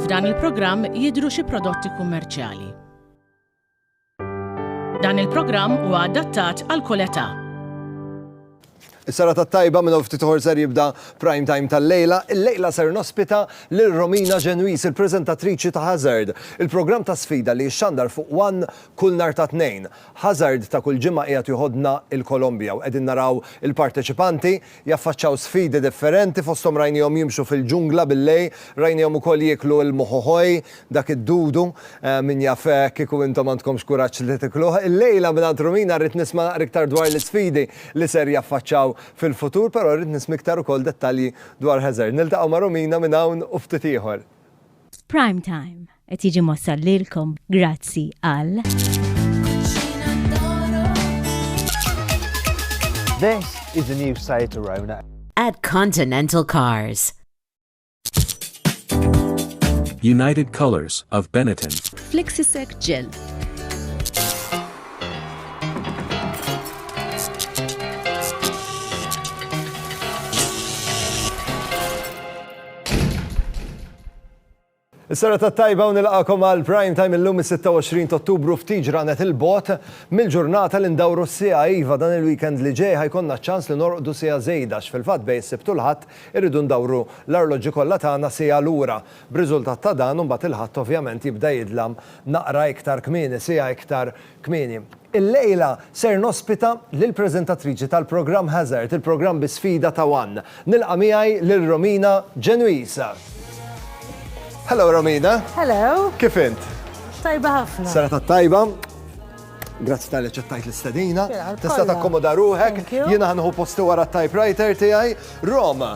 F'dan il-programm jidhru xi prodotti kummerċjali. Dan il-programm huwa adattat għal kull età. Is-sara tat-tajba minn ftit uħor ser jibda prime time tal-lejla. Il-lejla ser nospita lil Romina Ġenwis, il-preżentatriċi ta' Hazard, il-programm ta' sfida li xandar fuq One kull nar ta' tnejn. Ħażard ta' kull ġimgħa qiegħed joħodna l-Kolombja u qegħdin naraw il-parteċipanti jaffaċċaw sfidi differenti fosthom rajniehom jimxu fil-ġungla bil-lejl, rajniehom ukoll jieklu l-mohohoy, dak id-dudu, min jaf kieku intom għandkomx kuraġġ li tikluh. Illejla mingħand Rumina rrid nisma' naqra iktar dwar l-isfidi li ser jaffaċċaw fil-futur però rrid nisma' iktar ukoll dettalji dwar Ħażard. Niltaqgħu ma' Rumina minn hawn u ftit ieħor. F'Prime Time, Qed jiġi mossal lilkom grazzi għal. This is the new Seat Arona. At Continental Cars. United Colors of Benetton. Flexisec Gel. Is-serata t-tajba u nilqagħkom għal Prime Time illum is-26 t'Ottubru ftit ġranet 'il bogħod mill-ġurnata li ndawru s-siegħa. Iva, dan il-weekend li ġej ħa jkollna ċ-ċans li norqdu siegħa żejda għax fil-fatt bejn is-Sibt u l-Ħadd irridu ndawru l-arloġġi kollha tagħna siegħa lura. B'riżultat ta' dan, imbagħad il-Ħadd ovvjament jibda jidlam naqra iktar kmieni, siegħa iktar Kmieni illejla ser nospita lill-preżentatriċi tal-programm Hazard, il-programm bi sfida ta' one. Nilqa' miegħi lil Romina Genuisa. Hello Romina! Hello! Kif int? Tajba ħafna. Serata t-tajba. Grazzi tal-li ċettajt l-istedina. Tista' takkomoda ruħek. Jiena ħanħu posti wara t-typewriter tiegħi. Roma,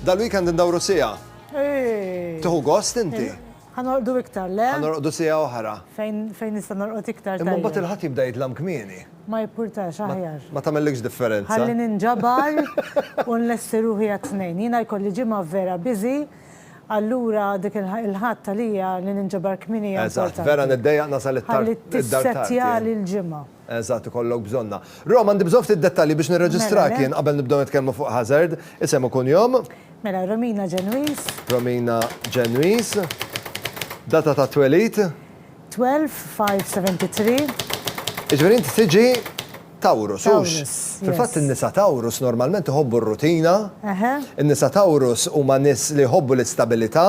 dal-weekend indawru sija. Tuħu gost inti? Ħa norqdu iktar, le? Ħa norqdu siegħa oħra. Fejn, fejn nista' norqod iktar tajjeb? Imma mbagħad il-Ħadd jibda jidlam kmieni. Ma jippurtax, aħjar. Ma tagħmellikx differenza. Ħalli ninġabar u nlesti ruħi għat-Tnejn. Jiena jkolli ġimgħa vera busy, allura dik il-Ħadd għalija li ninġabar kmieni hija importanti. Eżatt, vera niddejjaq nasal it-tard id-dar tard. Ħalli tissettjali l-ġimgħa. Eżatt, ikollok bżonnha. Rom, għandi bżonn ftit dettalji biex nirreġistrak jien qabel nibdew nitkellmu fuq Hazard. Isem u kunjom? Mela, Romina Ġenwiż. Romina Ġenwiż. Data ta' twelid? 12 5 73. Jiġifieri inti tiġi Taurus, hux? Fil-fatt in-nisa Taurus normalment iħobbu r-rutina. In-nisa Taurus huma nies li jħobbu l-istabilità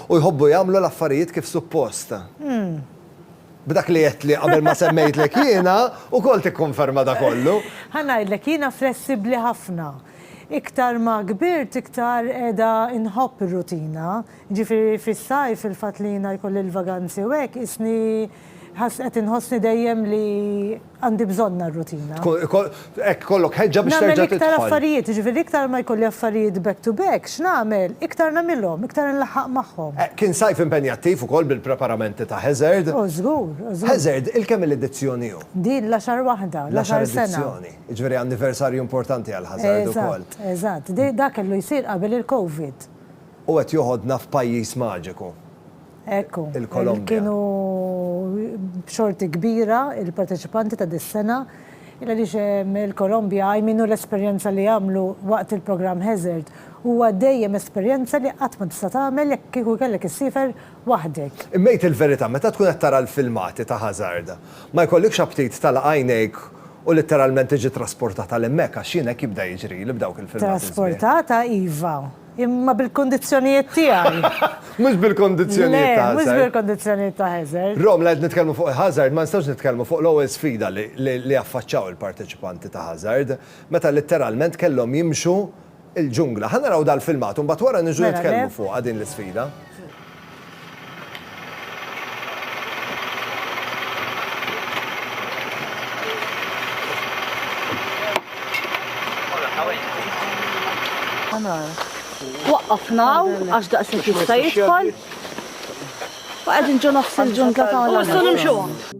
u jħobbu jagħmlu l-affarijiet kif suppost. B'dak li għedtli qabel ma semmejtlek jiena wkoll tikkonferma da kollu. Ħa ngħidlek, jiena flessibbli ħafna. Iktar ma kbirt iktar qiegħda nħobb ir-rutina. Jiġifieri fis-sajf il-fatt li jiena jkolli l-vaganzi u hekk qisni ħass qed inħossni dejjem li Għandi bżonnha r-rutina. Hekk ikollok ħeġġa biex terġa' tidħol. Nagħmel iktar affarijiet, jiġifieri iktar ma jkolli affarijiet back to back, x'nagħmel? Iktar nagħmilhom, iktar inlaħħaq magħhom. Kien sajf impenjattiv ukoll bil-preparamenti ta' Hazard. O żgur, o żgur. Hazard, il-kemm-il edizzjoni hu? Din l-għaxar waħda, l-għaxar sena. L-għaxar edizzjoni. Jiġifieri anniversarju importanti għal Hazard ukoll. Eżatt, eżatt. Dak kellu jsir qabel il-Covid. U qed joħodna f'pajjiż maġiku. Ekku, kienu b'xorti kbira il-parteċipanti ta' dis-sena għaliex il-Kolombja għajminu l-esperjenza li għamlu waqt il-programm Hazard huwa dejjem esperjenza li qatt ma tista' tagħmel jekk kieku kellek issiefer waħdek. Imma għid il-verità, meta tkun qed tara l-filmati ta' Hazard, ma jkollikx aptit tagħlaq għajnejk u litteralment tiġi trasportat għal hemmhekk għax jien hekk jibda jiġrili b'dawk il-filmati sbieħ. Trasportata iva, Imma bil-kondizzjonijiet tiegħi. Mhux bil-kondizzjonijiet ta' Hazard. Le, mhux bil-kondizzjonijiet ta' Hazard. Rom, la qed nitkellmu fuq Hazard, ma nistgħux nitkellmu fuq l-ewwel sfida li affaċċaw il-parteċipanti ta' Hazard, meta litteralment kellhom jimxu l-ġungla. Ħa naraw dal-filmat u mbagħad wara niġu nitkellmu fuqha din l-isfida. Waqqafna għax daqshekk jista' jidħol. Waqgħed inġu nofs il-ġuntla tagħna. Rom,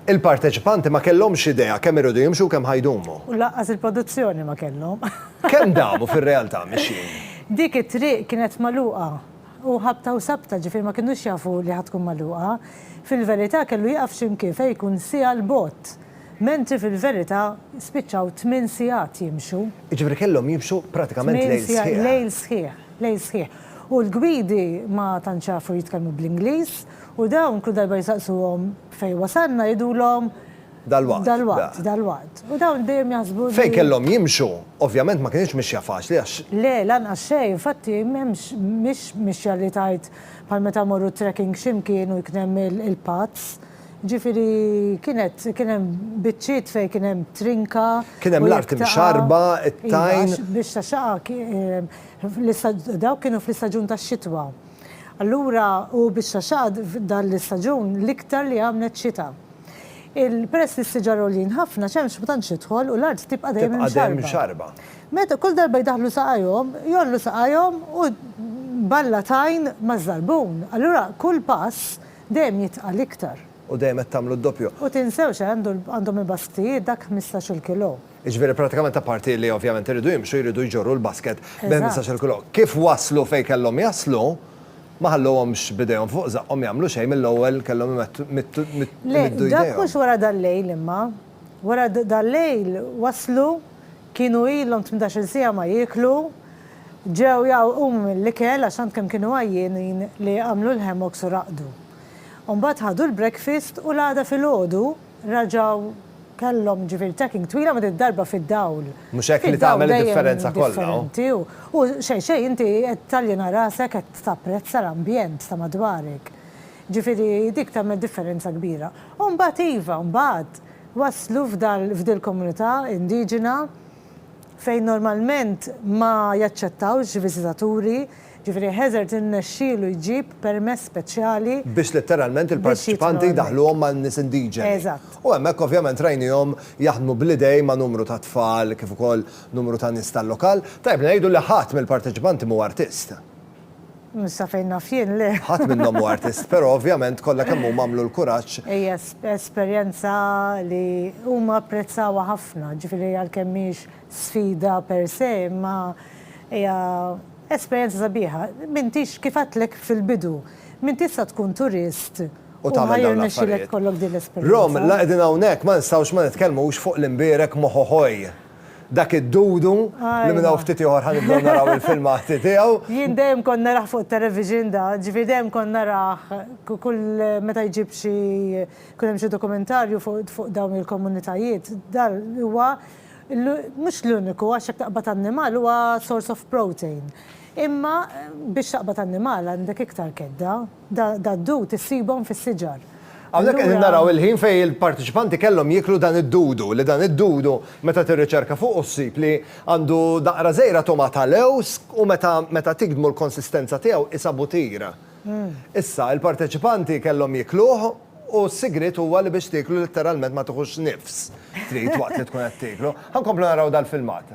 il-parteċipanti ma kellhomx idea kemm iridu jimxu u kemm ħa jdumu. U lanqas il-produzzjoni ma kellhom. Kemm damu fir-realtà mixjin? Dik it-triq kienet magħluqa u ħabta u sabta, ġifieri ma kinux jafu li ħa tkun magħluqa. Fil-verità kellu jieqaf xi mkien fejn jkun siegħa 'l bogħod, mentri fil-verità spiċċaw tmien sigħat jimxu. Jiġifieri kellhom jimxu pratikament lejl sħiħ. Tmien sigħat, lejl sħiħ, lejl sħiħ. U l-gwidi ma tantx jafu jitkellmu bl-Ingliż u dawn kull darba jsaqsuhom fejn wasalna jgħidulhom, Dalwaqt. Dalwaqt, dalwaqt. U dawn dejjem jaħsbu. Fejn kellhom jimxu, ovvjament ma kinitx mixja faċli għax. Le, lanqas xejn, infatti m'hemmx, mhix mixja li tgħid bħal meta mmorru trekking xi mkien u jkun hemm il-paths. Jiġifieri kienet, kien hemm biċċiet fejn kien hemm trinka. Kien hemm l-art imxarrba, it-tajn. Iva, biex tax-xaqaq, dawk kienu fl-istaġun tax-xitwa. Allura, u biex tax-xaqaq f'dan l-istaġun l-iktar li għamlet xita. Peress li s-siġar għoljin ħafna, xemx ma tantx tidħol u l-art tibqa' dejjem imxarba. Tibqa' dejjem imxarba. Meta kull darba jdaħħlu saqajhom, jgħollu saqajhom u balla tajn maż-żarbun. Allura kull pass dejjem jitqal iktar. U dejjem qed tagħmlu d-doppju. U tinsewx eh, għandhom il-basktijiet dak ħmistax-il kilo. Jiġifieri pratikament apparti li ovvjament iridu jimxu jridu jġorru l-basket bi ħmistax-il kilo. Kif waslu fejn kellhom jaslu, Ma ħallowhomx b'idejhom fuq żaqqhom jagħmlu xejn mill-ewwel kellhom imettu jmiddu idejhom. Le, dak mhux wara dal-lejl imma. Wara dal-lejl waslu, kienu ilhom tmintax-il siegħa ma jieklu, ġew jgħawwqumu mill-ikel għax tant kemm kienu għajjienin li għamlu l-hammocks u raqdu. U mbagħad ħadu l-breakfast u l-għada filgħodu, Raġgħu kellhom ġifieri tacking twila ma did-darba fid-dawl. Mhux hekk li tagħmel id-differenza kollha hu. U xejn xejn inti qed taljena rasek qed tapprezza l-ambjent ta' madwarek. Ġifieri dik tagħmel differenza kbira. U mbagħad iva, mbagħad waslu f'dil-komunità indiġena, fejn normalment ma jaċċettawx viżitaturi, jiġifieri Hazard irnexxielu jġib permess speċjali. Biex letteralment il-parteċipanti jdaħħluhom man-nies indiġeni. Eżatt. U hemmhekk ovvjament rajniehom jaħdmu bl-idejn ma' numru ta' tfal kif ukoll numru ta' nies tal-lokal. Tajjeb li ngħidu li ħadd mill-parteċipanti m'huwa artist. Sa fejn naf jien, le. Ħadd minnhom hu artist, però ovvjament kollha kemm huma għamlu l-kuraġġ. Hija esperjenza li huma apprezzawha ħafna, ġifieri għalkemm mhix sfida per se, imma hija esperjenza sabiħa. M'intix, kif għedtlek fil-bidu, m'int tista' tkun turist u ma jirnexxilek ikollok din l-esperjenza. Rom, la qegħdin hawnhekk ma nistgħux ma nitkellmux fuq l-imbierek Mohohoi. Dak id-dudu li minn hawn ftit ieħor ħa nibdew naraw il-filmati tiegħu. Jien dejjem kont narah fuq it-television da, ġifieri dejjem kont narah kull meta jġib xi jkun hemm xi dokumentarju fuq dawn il-komunitajiet. Da huwa mhux l-uniku għax jekk taqbad annimal huwa source of protein. Imma biex taqbad annimal għandek iktar kedda. dad-dud issibhom fis-siġar. Hawnhekk qegħdin naraw il-ħin fejn il-parteċipanti kellhom jieklu dan id-dudu, li dan id-dudu meta tirriċerka fuqu ssib li għandu daqra żgħira togħma ta' lewż u meta meta tigdmu l-konsistenza tiegħu qisha butir. Issa, il-parteċipanti kellhom jiekluh u s-sigriet huwa li biex tieklu litteralment ma tiħux nifs trid waqt li tkun qed tieklu. Ħa nkomplu naraw dal-filmat.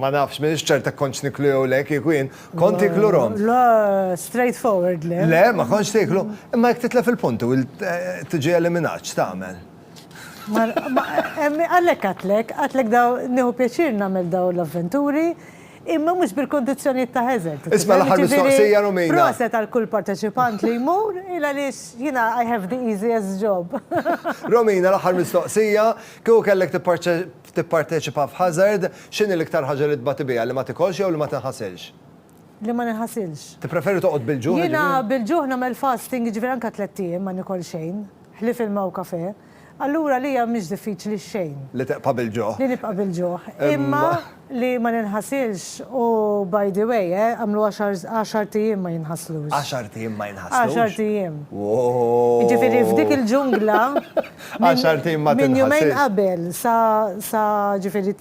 Ma nafx, minn ċerta konċ niklu jew le, kieku jien, konti klu rom. La, straight forward le. Le, ma konċ tiklu, imma jek titla fil-puntu, eh, tiġi eliminaċ, tamen. Għalhekk għedtlek, għedtlek dawn, nieħu pjaċir nagħmel dawn l-avventuri, imma mhux bil-kundizzjonijiet ta' Hazard. Isma' l-aħħar mistoqsija Romina. Jiġifieri, proset għal kull parteċipant li jmur, il għaliex jiena I have the easiest job. Romina, l-aħħar mistoqsija, kieku kellek tipparteċipa f'Hazard, x'inhi l-iktar ħaġa li tbati biha, li ma tikolx jew li ma tinħasilx? li ma ninħasilx. Tippreferi toqgħod bil-ġuħ? Jiena bil-ġuħ nagħmel fasting, jiġifieri anke tlett ijiem ma nikol xejn, ħlief ilma u kafè. Allura għalija mhix diffiċli xejn. Li tibqa' bil-ġuħ. Li nibqa' bil-ġuħ. Imma li ma ninħasilx u by the way, eh, għamlu għaxar, għaxart ijiem ma jinħaslux. Għaxart ijiem ma jinħaslux? Għaxart ijiem. Wooh! Jiġifieri f'dik il-ġungla, Għaxart ijiem ma tinħasilx. Minn jumejn qabel sa, sa, jiġifieri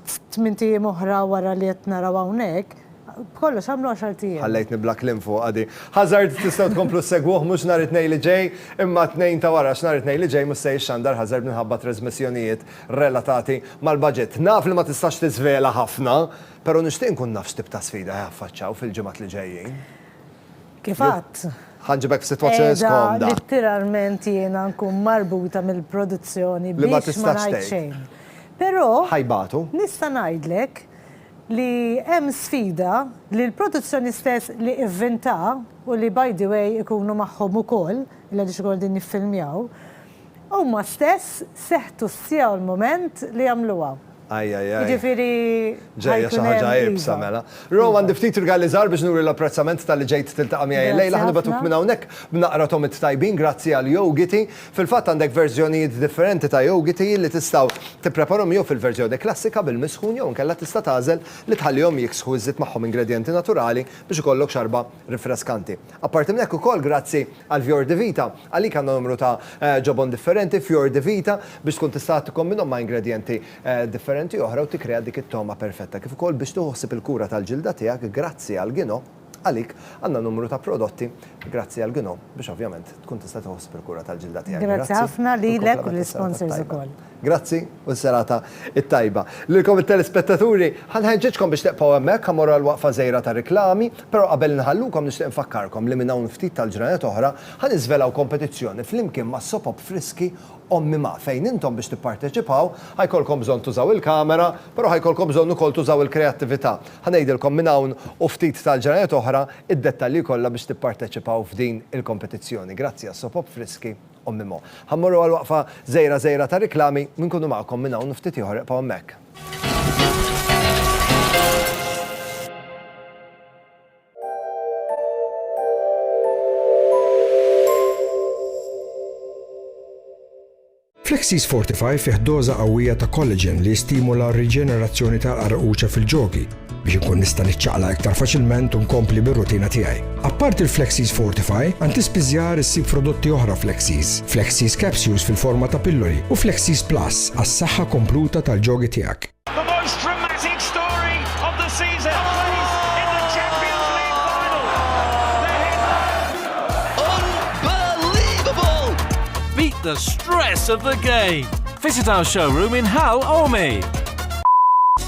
F'tmint ijiem oħra wara li qed naraw hawnhekk, b'kollox għamlu għaxart ijiem. Ħallejtni bla kliem fuqha di. Hazard tistgħu tkomplu ssegwuh mhux nhar it-Tnejn li ġej, imma t-Tnejn ta' wara x'nhar it-Tnejn li ġej mhux se jixxandar Hazard minħabba trasmissjonijiet relatati mal-baġit. Naf li ma tistax tiżvela ħafna, pero nixtieq nkun naf x'tip ta' sfida ħajaffaċċaw fil-ġimgħat li ġejjin. Kif għadt, qiegħda litteralment jiena nkun marbuta mill-produzzjoni biex ma ngħid xejn. Però nista' ngħidlek li hemm sfida li l-produzzjoni stess li ivvinta u li by the way ikunu magħhom ukoll, li għadhiex ukoll qegħdin jiffilmjaw, huma stess seħtu sjaw l-mument li jagħmluha. Ajajaj. Jiġifieri. Ġejja xi ħaġa iebsa mela. Ro, għandi ftit rigali żgħar biex nuri l-apprezzament talli ġejt tiltaqa' miegħi illejla. Ħa nibgħatuk minn hawnhekk b'naqra tomit tajbin grazzi għal yogiti. Fil-fatt għandek verżjonijiet differenti ta' yogiti li tistgħu tippreparhom jew fil-verżjoni klassika bil-misħun jew inkella tista' tagħżel li tħallihom jiksħu iżżid magħhom ingredjenti naturali biex ikollok xarba Rinfreskanti. Apparti minn hekk ukoll grazzi għal Fior di Vita, għalik għandna numru ta' ġobon differenti, Fior di Vita, biex tkun tista' tikkombinhom ma' ingredjenti differenti oħra u tikkrea dik it-togħma perfetta. Kif ukoll biex tieħu ħsieb il-kura tal-ġilda tiegħek grazzi għal Gino, għalik għandna numru ta' prodotti grazzi għal Gino biex ovvjament tkun tista' tieħu ħsieb il-kura tal-ġilda tiegħek. Grazzi ħafna lilek u lill-sponsors ukoll. Grazzi u s-serata t-tajba. Lilkom it-telespettaturi, ħa nħeġġiġkom biex tibqgħu hemmhekk, ħa mmorru għall-waqfa żgħira tar-riklami, però qabel inħallukom nixtieq infakkarkom li minn hawn ftit tal-ġranet oħra ħa niżvelaw kompetizzjoni flimkien ma' Sopop Friski Ommi Ma' fejn intom biex tipparteċipaw ħa jkollkom bżonn tużaw il-kamera, però ħa jkollkom bżonn ukoll tużaw il-kreattività. Ħa ngħidilkom minn hawn u ftit tal-ġranet oħra id-dettalji kollha biex tipparteċipaw f'din il-kompetizzjoni. Grazzi għas-Sopop Friski Ommi Mo. Ħa mmorru għal waqfa żgħira żgħira ta' riklami u nkunu magħkom minn hawn u ftit ieħor ibqgħu hemmhekk. Flexis Fortify fih doża qawwija ta' collagen li jistimula r-riġenerazzjoni tal-qarquċa fil-ġogi. biex inkun nista' niċċaqla iktar faċilment u nkompli bir-rutina tiegħi. Apparti l-Flexis Fortify, għand ispiżjar issib prodotti oħra Flexis, Flexis Capsules fil-forma ta' pilloli u Flexis Plus għas-saħħa kompluta tal-ġogi tiegħek. Beat the stress of the game. Visit our showroom in Hal Ormi.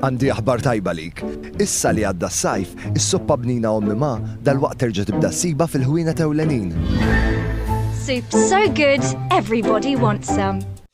Għandi aħbar tajba lik. Issa li għadda s-sajf, is-soppa bnina ommi ma dal-waqt terġa' tibda siba fil-ħwienet ewlenin. Soups so good, everybody wants some.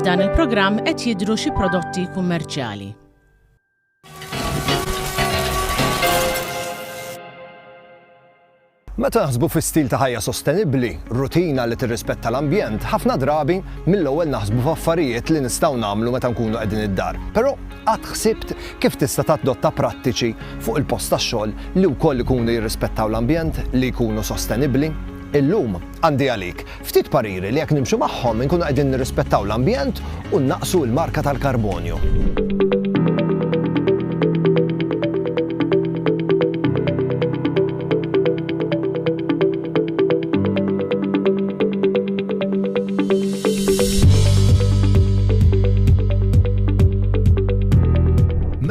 F'dan il-programm qed jidhru xi prodotti kummerċjali. Meta naħsbu fi stil ta' ħajja sostenibbli, rutina li tirrispetta l-ambjent, ħafna drabi mill-ewwel naħsbu f'affarijiet li nistgħu nagħmlu meta nkunu qegħdin id-dar. Però Qatt ħsibt kif tista' tadotta prattiċi fuq il-post tax-xogħol li wkoll ikunu jirrispettaw l-ambjent, li jkunu sostenibbli? Illum, għandi għalik ftit pariri li jekk nimxu magħhom inkunu qegħdin nirrispettaw l-ambjent u nnaqqsu l-marka tal-karbonju.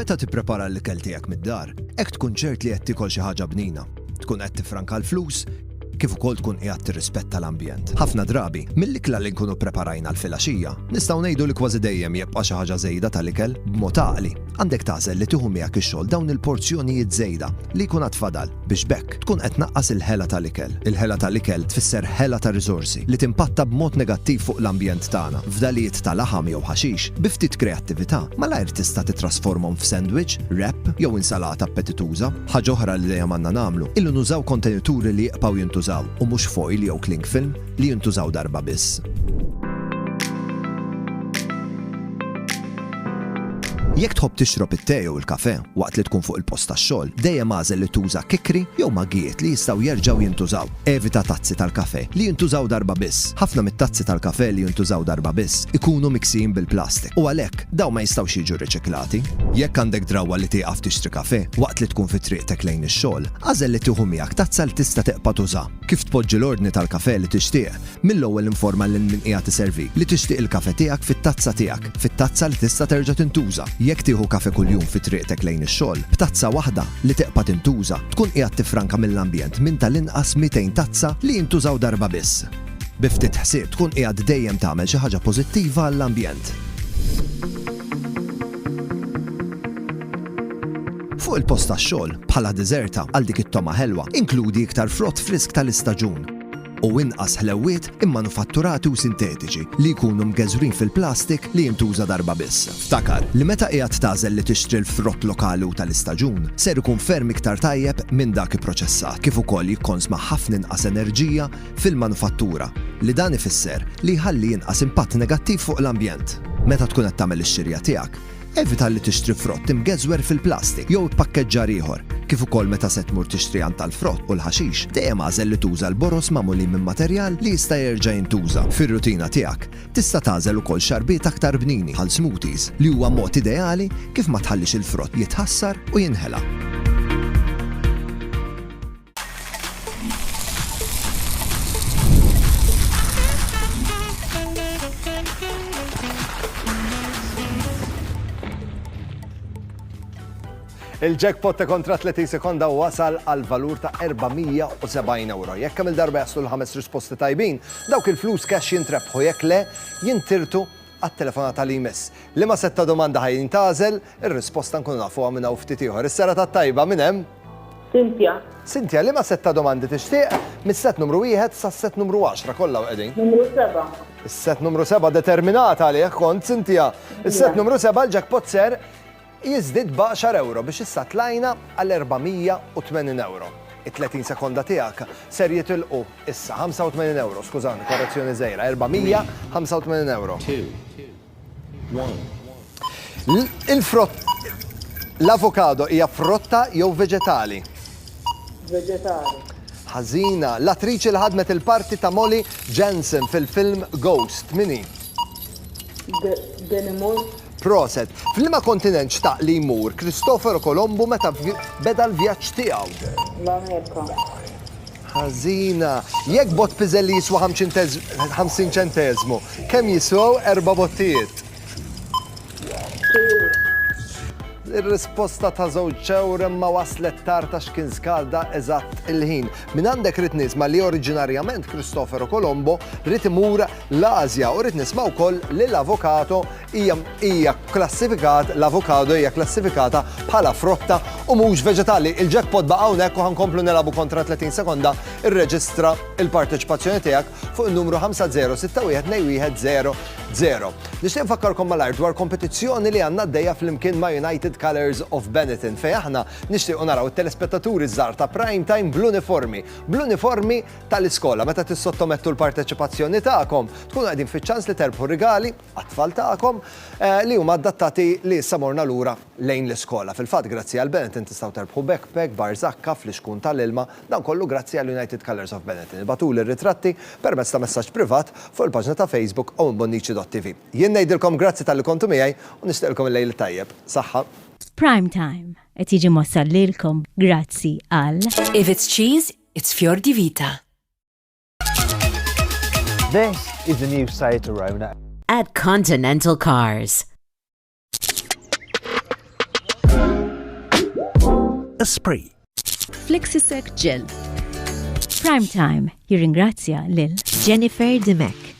Meta tipprepara l-ikel tiegħek mid-dar, hekk tkun ċert li qed tikol xi ħaġa bnina. Tkun qed tifranka l-flus, kif ukoll tkun qiegħed tirrispetta l-ambjent. Ħafna drabi, mill-ikla li nkunu ppreparajna l-filgħaxija, nistgħu ngħidu li kważi dejjem jibqa' xi ħaġa żejda tal-ikel b'mod għaqli. Għandek tagħżel li tieħu miegħek ix-xogħol dawn il-porzjonijiet żejda li jkun għad fadal biex b'hekk tkun qed tnaqqas il-ħela tal-ikel. Il-ħela tal-ikel tfisser ħela ta' riżorsi li timpatta b'mod negattiv fuq l-ambjent tagħna. Fdalijiet ta' laħam jew ħaxix, bi ftit kreattività, malajr tista' titrasformhom f'sandwich, wrap, jew insalata appetituża. Ħaġa oħra li dejjem għandna nagħmlu hi li nużaw kontenituri li jibqgħu jintużaw u mhux foil jew cling film. li jintużaw darba biss. Jekk tħobb tixrob it-te jew il-kafè waqt li tkun fuq il-post tax-xogħol, dejjem agħżel li tuża kikri jew maggijiet li jistgħu jerġgħu jintużaw. Evita tazzi tal-kafè li jintużaw darba biss. Ħafna mit-tazzi tal-kafè li jintużaw darba biss ikunu miksijin bil-plastik u għalhekk dawn ma jistgħux jiġu riċiklati. Jekk għandek drawwa li tieqaf tixtri kafè waqt li tkun fi triqtek lejn ix-xogħol, agħżel li tieħu miegħek tazza li tista' teqpa' tuża. Kif tpoġġi l-ordni tal-kafè li tixtieq? Mill-ewwel informa lil min qiegħed iservik li tixtieq il-kafè tiegħek fit-tazza tiegħek, fit-tazza li tista' terġa' tintuża. Jekk tieħu kafè kuljum fi triqtek lejn ix-xogħol, b'tazza waħda li teqpa' tintuża, tkun qiegħed tiffranka mill-ambjent minn tal-inqas 200 tazza li jintużaw darba biss. Bi ftit ħsieb tkun qiegħed dejjem tagħmel xi ħaġa pożittiva għall-ambjent. Fuq il-post tax-xogħol, bħala diżerta għal dik it-togħma ħelwa, inkludi iktar frott frisk tal-istaġun u inqas ħlewwiet immanufatturati u sintetiċi li jkunu mgeżwrin fil-plastik li jintuża darba biss. Ftakar li meta qiegħed tagħżel li tixtri l-frott lokali u tal-istaġun, ser ikun ferm iktar tajjeb minn dak ipproċessat, kif ukoll jikkonsma ħafna inqas enerġija fil-manufattura, li dan ifisser li jħalli inqas impatt negattiv fuq l-ambjent. Meta tkun qed tagħmel ix-xirja tiegħek, Evita li tixtri frott imgeżwer fil-plastik jew ippakkeġġar ieħor. Kif ukoll meta se tmur tixtri għan tal-frott u l-ħaxix, dejjem agħżel li tuża l-boroż magħmulin minn materjal li jista' jerġa' jintuża. Fir-rutina tiegħek, tista' tagħżel ukoll xarbiet aktar bnini, bħal smoothies, li huwa mod ideali kif ma tħallix il-frott jitħassar u jinħela. Il-jackpot ta' kontra 30 sekonda wasal għal valur ta' 470 euro. Jekk kemm il-darba jaslu l-ħames risposti tajbin, dawk il-flus cash jintrebħu jekk le jintirtu għat-telefonata li jmiss. Liema sett ta' domanda ħa jintgħażel? Ir-risposta nkunu nafuha minn hawn ftit ieħor. Is-serata t-tajba minn hemm? Cynthia. Cynthia, liema sett ta' domandi tixtieq? Mis-sett numru wieħed sas-sett numru għaxra kollha hawn qegħdin. Numru seba'. Is-sett numru seba' determinat għalih kont, Cynthia. Is-sett numru seba' l-jackpot ser Jiżdied b'għaxar ewro biex issa tlajna għal 480 ewro. It-30 sekonda tiegħek ser jitilqu issa. 85 ewro, skużani, korrezzjoni żgħira, 485 ewro. Il-frott L-avokado hija frotta jew veġetali? Veġetali. Ħażina, l-attriċi li ħadmet il-parti ta' Molly Jensen fil-film Ghost, mini? Demi Moore. Proset. F'liema kontinent xtaq li jmur Kristofero Kolombu meta beda l-vjaġġ tiegħu? L-Amerika. Ħażina. Jekk bott piżelli jiswa ħamsin ċenteżmu, kemm jiswew erba' bottijiet? Ir-risposta ta' żewġ ewro imma waslet tard għax kien skada eżatt il-ħin. Mingħandek ridt nisma' li oriġinarjament Kristofero Kolombo ried imur l-Ażja u rrid nisma' wkoll li l-avokado hija hija kklassifikat l-avokado hija kklassifikata bħala frotta u mhux veġetali. Il-jackpot baqa' hawnhekk u ħankomplu nilagħbu kontra 30 sekonda irreġistra l-parteċipazzjoni tiegħek fuq in-numru 50619100. Nixtieq nfakkarkom malajr dwar kompetizzjoni li għandna għaddejja flimkien ma' United Colours of Benetton fejn aħna nixtiequ naraw it-telespettaturi żgħar ta' Prime Time bl-uniformi bl-uniformi tal-iskola. Meta tissottomettu l-parteċipazzjoni tagħkom, tkunu qegħdin fiċ-ċans li terbħu rigali għat-tfal tagħkom li huma adattati li issa morna lura lejn l-iskola. Fil-fatt, grazzi għal Benetton tistgħu terbħu backpack, bar żakka, flixkun tal-ilma, dan kollu grazzi għal United Colours of Benetton. Ibagħtuli r-ritratti permezz ta' messaġġ privat fuq il-paġna ta' Facebook owenbonnici.tv. Jien ngħidilkom grazzi talli kontu miegħi u nixtieqilkom il-lejl it-tajjeb. Saħħa. Prime Time qed jiġi mwassal lilkom grazzi għal. Iviz Cheese, It's fior di vita. This is the new Seat Arona. At Continental Cars. Esprit. Flexisec Gel. Prime Time jirringrazzja lil Jennifer Dimek.